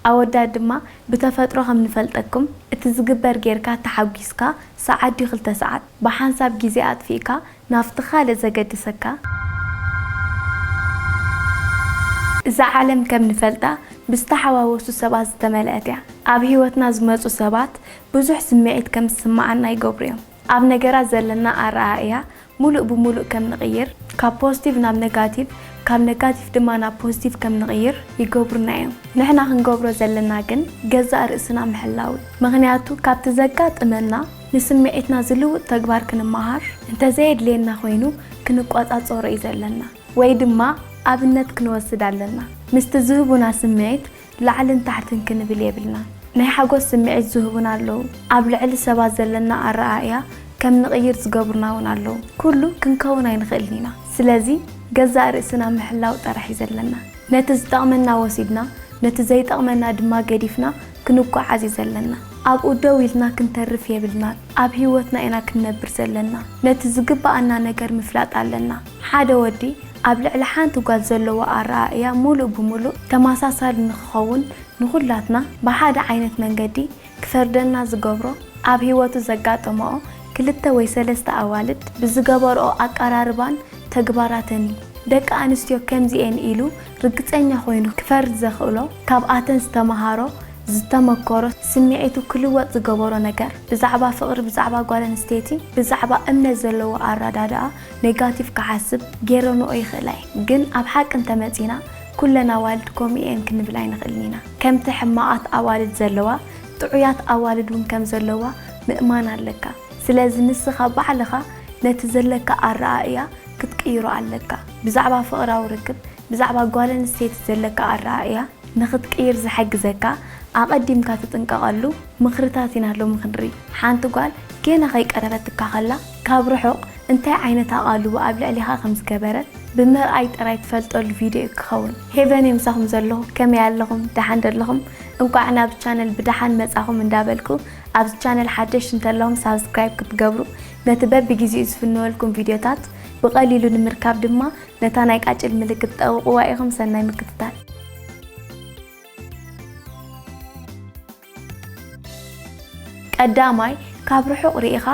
ኣወዳት ድማ ብተፈጥሮ ከም ንፈልጠኩም እቲ ዝግበር ጌርካ ተሓጒስካ ሰዓት ድዩ ክልተ ሰዓት ብሓንሳብ ግዜ ኣጥፊእካ ናብቲ ካልእ ዘገድሰካ፣ እዛ ዓለም ከም ንፈልጣ ብዝተሓዋወሱ ሰባት ዝተመልአት እያ፣ ኣብ ሂወትና ዝመጹ ሰባት ብዙሕ ስምዒት ከም ዝስመዓና ይገብሩ እዮም፣ ኣብ ነገራት ዘለና ኣረኣእያ ሙሉእ ብሙሉእ ከም ንቕይር፣ ካብ ፖዝቲቭ ናብ ነጋቲቭ፣ ካብ ነጋቲቭ ድማ ናብ ፖዝቲቭ ከም ንቕይር ይገብሩና እዮም። ንሕና ክንገብሮ ዘለና ግን ገዛእ ርእስና ምሕላው እዩ። ምኽንያቱ ካብቲ ዘጋጥመና ንስምዒትና ዝልውጥ ተግባር ክንመሃር፣ እንተዘየድልየና ኮይኑ ክንቆፃፀሮ እዩ ዘለና ወይ ድማ ኣብነት ክንወስድ ኣለና። ምስቲ ዝህቡና ስምዒት ላዕልን ታሕትን ክንብል የብልናን። ናይ ሓጎስ ስምዒት ዝህቡና ኣለዉ፣ ኣብ ልዕሊ ሰባት ዘለና ኣረኣእያ ከም ንቕይር ዝገብሩና እውን ኣለዉ። ኩሉ ክንከውን ኣይንኽእልን ኢና። ስለዚ ገዛእ ርእስና ምሕላው ጥራሕ እዩ ዘለና። ነቲ ዝጠቕመና ወሲድና ነቲ ዘይጠቕመና ድማ ገዲፍና ክንጓዓዝ እዩ ዘለና። ኣብኡ ደው ኢልና ክንተርፍ የብልናን። ኣብ ህይወትና ኢና ክንነብር ዘለና። ነቲ ዝግበኣና ነገር ምፍላጥ ኣለና። ሓደ ወዲ ኣብ ልዕሊ ሓንቲ ጓል ዘለዎ ኣረኣእያ ምሉእ ብምሉእ ተመሳሳሊ ንኽኸውን ንኹላትና ብሓደ ዓይነት መንገዲ ክፈርደና ዝገብሮ ኣብ ህይወቱ ዘጋጠመኦ ክልተ ወይ ሰለስተ ኣዋልድ ብዝገበርኦ ኣቀራርባን ተግባራትን እዩ። ደቂ ኣንስትዮ ከምዚ እየን ኢሉ ርግፀኛ ኮይኑ ክፈርድ ዘኽእሎ ካብኣተን ዝተምሃሮ፣ ዝተመከሮ፣ ስምዒቱ ክልወጥ ዝገበሮ ነገር ብዛዕባ ፍቕሪ፣ ብዛዕባ ጓል ኣንስተይቲ፣ ብዛዕባ እምነት ዘለዎ ኣረዳድኣ፣ ኔጋቲቭ ክሓስብ ጌረንኦ ይኽእላ እየን ግን ኣብ ሓቂ እንተመጺና ኩለን ኣዋልድ ከምኡ እየን ክንብል ኣይንኽእልን ኢና ከምቲ ሕማቓት ኣዋልድ ዘለዋ ጥዑያት ኣዋልድ ውን ከም ዘለዋ ምእማን ኣለካ ስለዚ ንስኻ ባዕልኻ ነቲ ዘለካ ኣረኣእያ ክትቅይሮ ኣለካ ብዛዕባ ፍቕራዊ ርክብ ብዛዕባ ጓል ኣንስተይቲ ዘለካ ኣረኣእያ ንኽትቅይር ዝሕግዘካ ኣቐዲምካ ትጥንቀቐሉ ምኽርታት ኢና ሎሚ ክንርኢ ሓንቲ ጓል ጌና ከይቀረበትካ ከላ ካብ ርሑቕ እንታይ ዓይነት ኣቓልቦ ኣብ ልዕሌኻ ከም ዝገበረት ብምርኣይ ጥራይ ትፈልጠሉ ቪድዮ እዩ ክኸውን። ሄቨን እየ ምሳኹም ዘለኹ ከመይ ኣለኹም ደሓን ዶ ኣለኹም እንቋዕ ናብዚ ቻነል ብደሓን መጻኹም እንዳበልኩ ኣብዚ ቻነል ሓደሽቲ እንተለኹም ሳብስክራይብ ክትገብሩ ነቲ በብጊዜኡ ዝፍንወልኩም ቪድዮታት ብቐሊሉ ንምርካብ ድማ ነታ ናይ ቃጭል ምልክት ጠውቕዋ ኢኹም ሰናይ ምክትታል። ቀዳማይ ካብ ርሑቕ ሪኢኻ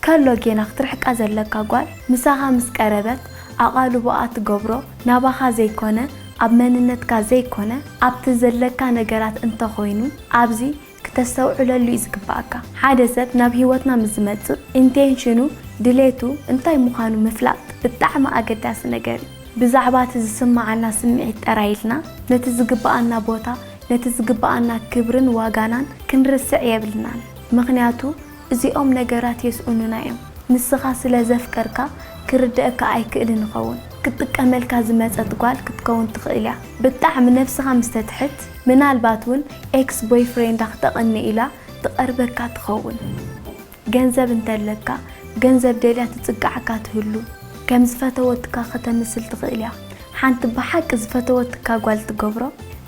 ከሎ ጌና ክትርሕቃ ዘለካ ጓል ምሳኻ ምስ ቀረበት ኣቓልቦኣ ትገብሮ ናባኻ ዘይኮነ ኣብ መንነትካ ዘይኮነ ኣብቲ ዘለካ ነገራት እንተኾይኑ ኣብዚ ክተስተውዕለሉ ዩ ዝግባኣካ ሓደ ሰብ ናብ ሂወትና ምስ ዝመጽእ ኢንቴንሽኑ ድሌቱ እንታይ ምዃኑ ምፍላጥ ብጣዕሚ ኣገዳሲ ነገር ዩ ብዛዕባ እቲ ዝስማዓና ስምዒት ጠራይ ኢልና ነቲ ዝግባኣና ቦታ ነቲ ዝግብኣና ክብርን ዋጋናን ክንርስዕ የብልናን ምኽንያቱ እዚኦም ነገራት የስኡኑና እዮም ንስኻ ስለ ዘፍቀርካ ክርደኣካ ኣይክእልን ይኸውን ክትጥቀመልካ ዝመጸት ጓል ክትከውን ትኽእል እያ ብጣዕሚ ነብስኻ ምስ ተትሕት ምናልባት ውን ኤክስ ቦይፍሬንዳ ክተቕንእ ኢላ ትቐርበካ ትኸውን። ገንዘብ እንተለካ ገንዘብ ደልያ ትጽግዓካ ትህሉ ከም ዝፈተወትካ ከተምስል ትኽእል እያ ሓንቲ ብሓቂ ዝፈተወትካ ጓል ትገብሮ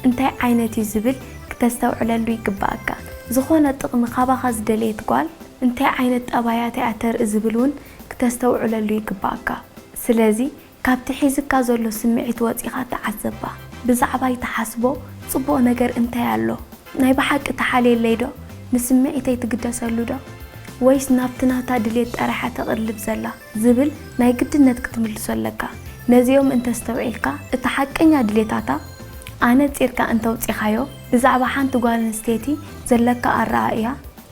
እንታይ ዓይነት እዩ ዝብል ክተስተውዕለሉ ይግብኣካ ዝኾነ ጥቅሚ ካባኻ ዝደለየት ጓል እንታይ ዓይነት ጠባያት እያ ተርኢ ዝብል ውን ክተስተውዕለሉ ይግብኣካ ስለዚ ካብቲ ሒዝካ ዘሎ ስምዒት ወጺኻ ተዓዘባ። ብዛዕባይ ትሓስቦ ጽቡቕ ነገር እንታይ ኣሎ? ናይ ብሓቂ ትሓልየለይ ዶ? ንስምዒተይ ትግደሰሉ ዶ? ወይስ ናብቲ ናታ ድሌት ጥራሕ'ያ ተቕልብ ዘላ? ዝብል ናይ ግድነት ክትምልሶ ኣለካ። ነዚኦም እንተ ኣስተውዒልካ፣ እቲ ሓቀኛ ድሌታታ ኣነጺርካ እንተ ኣውጺኻዮ፣ ብዛዕባ ሓንቲ ጓል ኣንስተይቲ ዘለካ ኣረኣእያ፣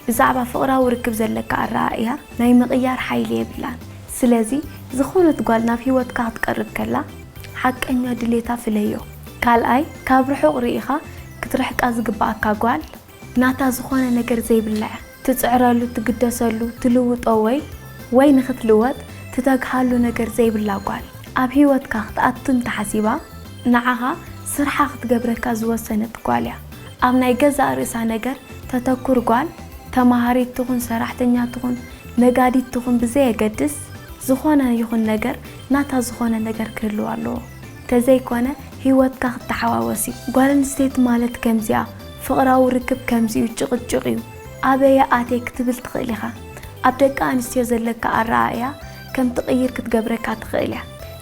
ብዛዕባ ፍቕራዊ ርክብ ዘለካ ኣረኣእያ ናይ ምቕያር ሓይሊ የብላን። ስለዚ ዝኾነት ጓል ናብ ህይወትካ ክትቀርብ ከላ ሓቀኛ ድሌታ ፍለዮ። ካልኣይ፣ ካብ ርሑቕ ርኢኻ ክትርሕቃ ዝግበኣካ ጓል፣ ናታ ዝኾነ ነገር ዘይብላ እያ፣ ትጽዕረሉ፣ ትግደሰሉ፣ ትልውጦ ወይ ወይ ንኽትልወጥ ትተግሃሉ ነገር ዘይብላ ጓል ኣብ ህይወትካ ክትኣቱ እንተሓሲባ ንዓኻ ስርሓ ክትገብረካ ዝወሰነት ጓል እያ። ኣብ ናይ ገዛእ ርእሳ ነገር ተተኩር ጓል፣ ተማሃሪት ትኹን ሰራሕተኛ ትኹን ነጋዲት ትኹን ብዘየገድስ ዝኾነ ይኹን ነገር ናታ ዝኾነ ነገር ክህልዋ ኣለዎ ተዘይኮነ ሂወትካ ክተሓዋወስ እዩ ጓል ኣንስተይቲ ማለት ከምዚኣ ፍቕራዊ ርክብ ከምዚ'ዩ ጭቕጭቕ እዩ ኣበየ ኣትየ ክትብል ትኽእል ኢኻ ኣብ ደቂ ኣንስትዮ ዘለካ ኣረኣእያ ከምትቕይር ክትገብረካ ትኽእል እያ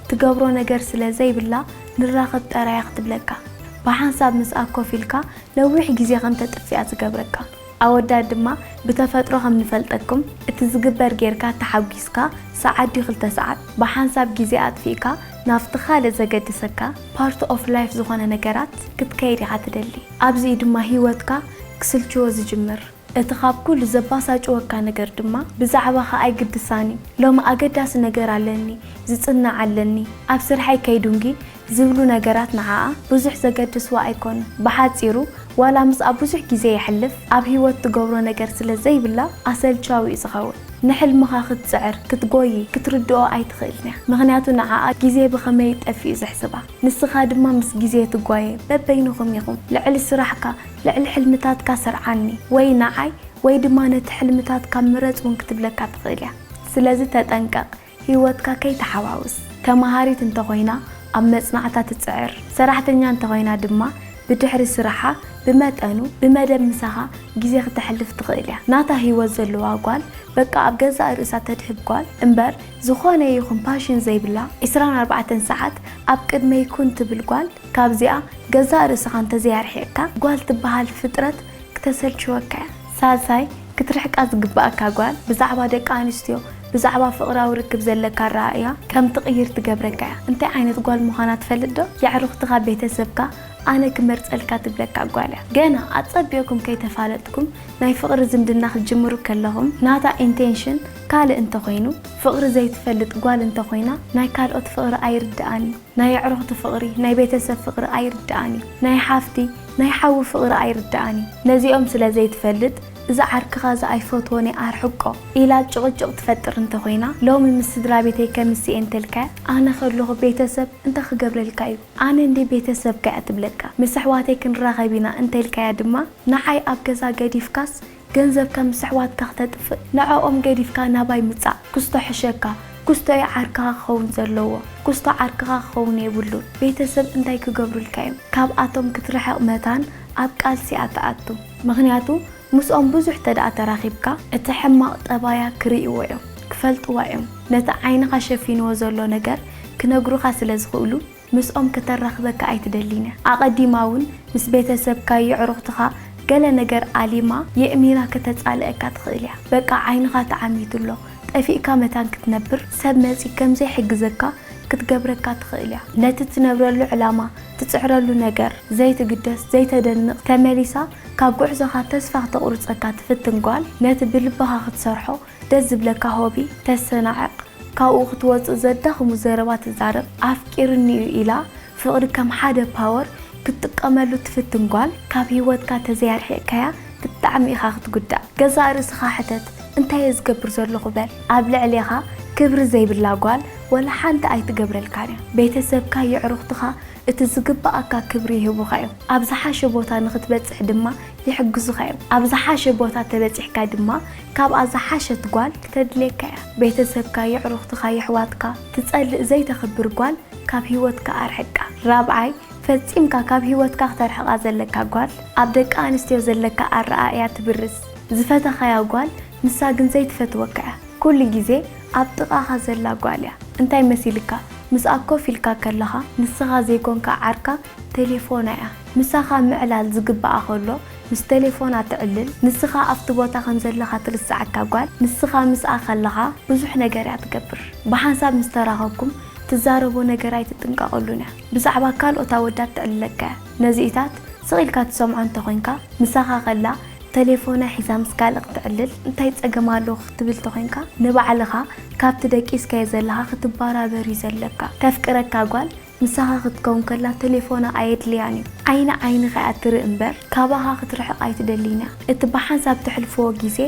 ትገብሮ ነገር ስለዘይብላ ንራኸብ ጠራያ ክትብለካ ብሓንሳብ ምስኣ ኮፍ ኢልካ ነዊሕ ግዜ ከም ተጥፍኣ ዝገብረካ ኣወዳት ድማ ብተፈጥሮ ከም ንፈልጠኩም እቲ ዝግበር ጌርካ ተሓጒስካ ሰዓት ድዩ ክልተ ሰዓት ብሓንሳብ ግዜ ኣጥፊእካ ናብቲ ካልእ ዘገድሰካ ፓርት ኦፍ ላይፍ ዝኾነ ነገራት ክትከይድ ኢኻ ትደሊ ኣብዚ እዩ ድማ ሂወትካ ክስልችዎ ዝጅምር። እቲ ኻብ ኵሉ ዘባሳጭወካ ነገር ድማ፣ ብዛዕባኻ ኣይግድሳን እዩ። ሎሚ ኣገዳሲ ነገር ኣለኒ፣ ዝጽናዕ ኣለኒ፣ ኣብ ስርሐይ ከይዱንጊ ዚብሉ ነገራት ንዓኣ ብዙሕ ዘገድስዋ ኣይኰኑን። ብሓጺሩ፣ ዋላ ምስኣ ብዙሕ ግዜ የሕልፍ፣ ኣብ ህይወት ትገብሮ ነገር ስለ ዘይብላ ኣሰልቻዊ እዩ ዚኸውን። ንሕልምኻ ኽትጽዕር፣ ክትጐዪ፣ ክትርድኦ ኣይትኽእልን እያ፣ ምኽንያቱ ንዓኣ ግዜ ብኸመይ ጠፊኡ ዜሕስባ። ንስኻ ድማ ምስ ግዜ ትጓየ፣ በበይንኹም ኢኹም። ልዕሊ ስራሕካ፣ ልዕሊ ሕልምታትካ ስርዓኒ ወይ ንዓይ ወይ ድማ ነቲ ሕልምታትካ ምረጽ እውን ክትብለካ ትኽእል እያ። ስለዚ ተጠንቀቕ ህይወትካ ከይትሓዋውስ። ተመሃሪት እንተኾይና ኣብ መጽናዕታ ትጽዕር፣ ሰራሕተኛ እንተኾይና ድማ ብድሕሪ ስራሓ ብመጠኑ ብመደብ ምሳኻ ግዜ ክተሕልፍ ትኽእል እያ። ናታ ህይወት ዘለዋ ጓል፣ በቃ ኣብ ገዛእ ርእሳ ተድህብ ጓል እምበር ዝኾነ ይኹን ፓሽን ዘይብላ፣ ዕስራን ኣርባዕተን ሰዓት ኣብ ቅድመይ ኩን ትብል ጓል፣ ካብዚኣ ገዛእ ርእስኻ እንተዘይኣርሒቕካ ጓል ትበሃል ፍጥረት ክተሰልችወካ እያ። ሳልሳይ፣ ክትርሕቃ ዝግበኣካ ጓል ብዛዕባ ደቂ ኣንስትዮ፣ ብዛዕባ ፍቕራዊ ርክብ ዘለካ ኣረኣእያ ከም ትቕይር ትገብረካ እያ። እንታይ ዓይነት ጓል ምዃና ትፈልጥዶ? የዕሩኽትኻ፣ ቤተሰብካ፣ ኣነ ክመርጸልካ ትብለካ ጓል እያ። ገና ኣጸቢቕኩም ከይተፋለጥኩም ናይ ፍቕሪ ዝምድና ክትጅምሩ ከለኹም ናታ ኢንቴንሽን ካልእ እንተኾይኑ፣ ፍቕሪ ዘይትፈልጥ ጓል እንተኾይና ናይ ካልኦት ፍቕሪ ኣይርድኣን እዩ። ናይ ኣዕሩኽቲ ፍቕሪ፣ ናይ ቤተሰብ ፍቕሪ ኣይርድኣን እዩ። ናይ ሓፍቲ፣ ናይ ሓዊ ፍቕሪ ኣይርድኣን እዩ። ነዚኦም ስለ ዘይትፈልጥ፣ እዚ ዓርክኻ እዚ ኣይፈትዎን እየ ኣርሕቆ ኢላ ጭቕጭቕ ትፈጥር እንተ ኾይና፣ ሎሚ ምስ ስድራቤተይ ከምሲ እየ እንተልካያ፣ ኣነ ከለኹ ቤተሰብ እንታይ ክገብረልካ እዩ? ኣነ እንድየ ቤተሰብካ እያ ትብለካ። ምስ ኣሕዋተይ ክንራኸብ ኢና እንተልካያ ድማ፣ ንዓይ ኣብ ገዛ ገዲፍካስ ገንዘብካ ምስ ኣሕዋትካ ክተጥፍእ ንዐኦም ገዲፍካ ናባይ ምጻእ ክስቶ ሕሸካ ክስቶ እዩ ዓርክኻ ክኸውን ዘለዎ ክስቶ ዓርክኻ ክኸውን የብሉን ቤተሰብ እንታይ ክገብሩልካ እዮም ካብኣቶም ክትርሕቅ መታን ኣብ ቃልሲ እያ ትኣቱ ምኽንያቱ ምስኦም ብዙሕ ተድኣ ተራኺብካ እቲ ሕማቅ ጠባያ ክርእይዎ እዮም ክፈልጥዋ እዮም ነቲ ዓይንኻ ሸፊንዎ ዘሎ ነገር ክነግሩኻ ስለ ዝኽእሉ ምስኦም ከተራኽበካ ኣይትደሊን እያ። ኣቐዲማ እውን ምስ ቤተሰብካ፣ የዕሩኽትኻ፣ ገለ ነገር ኣሊማ የእሚራ ከተጻልኣካ ትኽእል እያ። በቃ ዓይንኻ ተዓሚቱ ኣሎ፣ ጠፊእካ መታን ክትነብር ሰብ መጺ ከም ዘይሕግዘካ ክትገብረካ ትኽእል እያ። ነቲ ትነብረሉ ዕላማ፣ ትጽዕረሉ ነገር ዘይትግደስ፣ ዘይተደንቕ፣ ተመሊሳ ካብ ጉዕዞኻ ተስፋ ክተቑርጸካ ትፍትን ጓል፣ ነቲ ብልብኻ ክትሰርሖ ደስ ዝብለካ ሆቢ ተሰናዕቕ። ካብኡ ክትወጽእ ዘዳኽሙ ዘረባ ትዛረብ ኣፍቂሩኒ'ዩ ኢላ ፍቕሪ ከም ሓደ ፓወር ክትጥቀመሉ ትፍትን ጓል ካብ ሂወትካ ተዘይኣርሒቕካያ ብጣዕሚ ኢኻ ክትጉዳእ ገዛእ ርእስኻ ሕተት እንታይ'የ ዝገብር ዘለኹ በል ኣብ ልዕሌኻ ክብሪ ዘይብላ ጓል ወላ ሓንቲ ኣይትገብረልካን'ያ ቤተሰብካ የዕሩኽትኻ እቲ ዝግበኣካ ክብሪ ይህቡኻ'ዮም ኣብ ዝሓሸ ቦታ ንኽትበጽሕ ድማ ይሕግዙኻ'ዮም ኣብ ዝሓሸ ቦታ ተበጺሕካ ድማ ካብኣ ዝሓሸት ጓል ክተድልየካ እያ ቤተሰብካ የዕሩኽትኻ የሕዋትካ ትጸልእ ዘይተኽብር ጓል ካብ ሂወትካ ኣርሕቃ ራብዓይ ፈጺምካ ካብ ሂወትካ ክተርሕቃ ዘለካ ጓል ኣብ ደቂ ኣንስትዮ ዘለካ ኣረኣእያ ትብርዝ ዝፈተኻያ ጓል ንሳ ግን ዘይትፈትወካ እያ ኩሉ ግዜ ኣብ ጥቃኻ ዘላ ጓል እያ እንታይ መሲልካ ምስኣ ኮፍ ኢልካ ከለኻ ንስኻ ዘይኮንካ ዓርካ ቴሌፎና እያ ምሳኻ ምዕላል ዝግባኣ ከሎ ምስ ቴሌፎና ትዕልል ንስኻ ኣብቲ ቦታ ከም ዘለኻ ትርስዓካ ጓል ንስኻ ምስኣ ከለኻ ብዙሕ ነገር እያ ትገብር ብሓንሳብ ምስ ተራኸብኩም ትዛረቦ ነገር ኣይትጥንቀቐሉን እያ ብዛዕባ ካልኦት ኣወዳት ትዕልለካ እያ ነዚኢታት ስቕ ኢልካ ትሰምዖ እንተ ኾይንካ ምሳኻ ከላ ተሌፎና ሒዛ ምስ ካልእ ክትዕልል እንታይ ጸገም ኣለዎ ክትብል ተኾይንካ ንባዕልኻ ካብቲ ደቂስካዮ ዘለኻ ክትባራበር እዩ ዘለካ ተፍቅረካ ጓል ምሳኻ ክትከውን ከላ ተሌፎና ኣየድልያን እዩ ዓይኒ ዓይንኻ እያ ትርኢ እምበር ካባኻ ክትርሕቕ ኣይትደልን እያ እቲ ብሓንሳብ ተሕልፍዎ ግዜ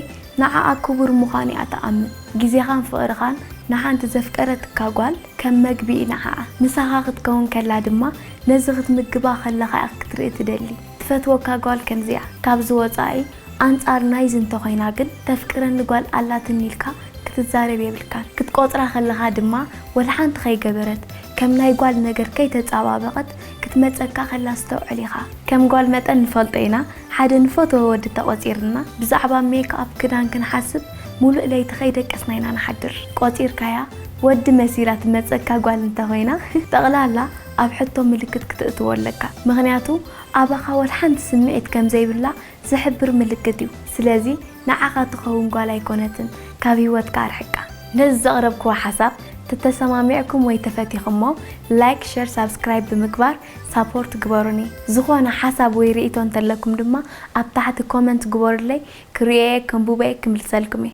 ንዓኣ ክቡር ምዃኑ እያ ትኣምን ግዜኻን ፍቕርኻን ንሓንቲ ዘፍቀረትካ ጓል ከም መግቢ እዩ ንዓኣ ምሳኻ ክትከውን ከላ ድማ ነዚ ክትምግባ ከለኻ እያ ክትርኢ ትደሊ ትፈትወካ ጓል ከምዚ'ያ ካብዚ ወጻኢ ኣንጻር ናይዚ እንተኾይና ግን ተፍቅረኒ ጓል ኣላትኒ ኢልካ ክትዛረብ የብልካን። ክትቆጽራ ከለኻ ድማ ወላ ሓንቲ ከይገበረት ከም ናይ ጓል ነገር ከይተጻባበቀት ክትመጸካ ከላ ኣስተውዕል ኢኻ። ከም ጓል መጠን ንፈልጦ ኢና ሓደ ንፈትዎ ወዲ ተቆጺርና ብዛዕባ ሜክኣፕ ክዳን ክንሓስብ ሙሉእ ለይቲ ከይደቀስና ኢና ንሓድር። ቆጺርካያ ወዲ መሲላ ትመጸካ ጓል እንተኾይና ጠቅላላ ኣብ ሕቶ ምልክት ክትእትዎ ኣለካ። ምኽንያቱ ኣባኻ ወላ ሓንቲ ስምዒት ከምዘይብላ ዝሕብር ምልክት እዩ ስለዚ ንዓኻ ትኸውን ጓል ኣይኮነትን ካብ ሂወትካ ኣርሕቃ። ነዚ ዘቕረብክዎ ሓሳብ ተተሰማሚዕኩም ወይ ተፈቲኽሞ ላይክ ሸር ሳብስክራይብ ብምግባር ሳፖርት ግበሩኒ ዝኾነ ሓሳብ ወይ ሪኢቶ እንተለኩም ድማ ኣብ ታሕቲ ኮመንት ግበሩለይ ክሪኦየ ከንቡቦየ ክምልሰልኩምየ።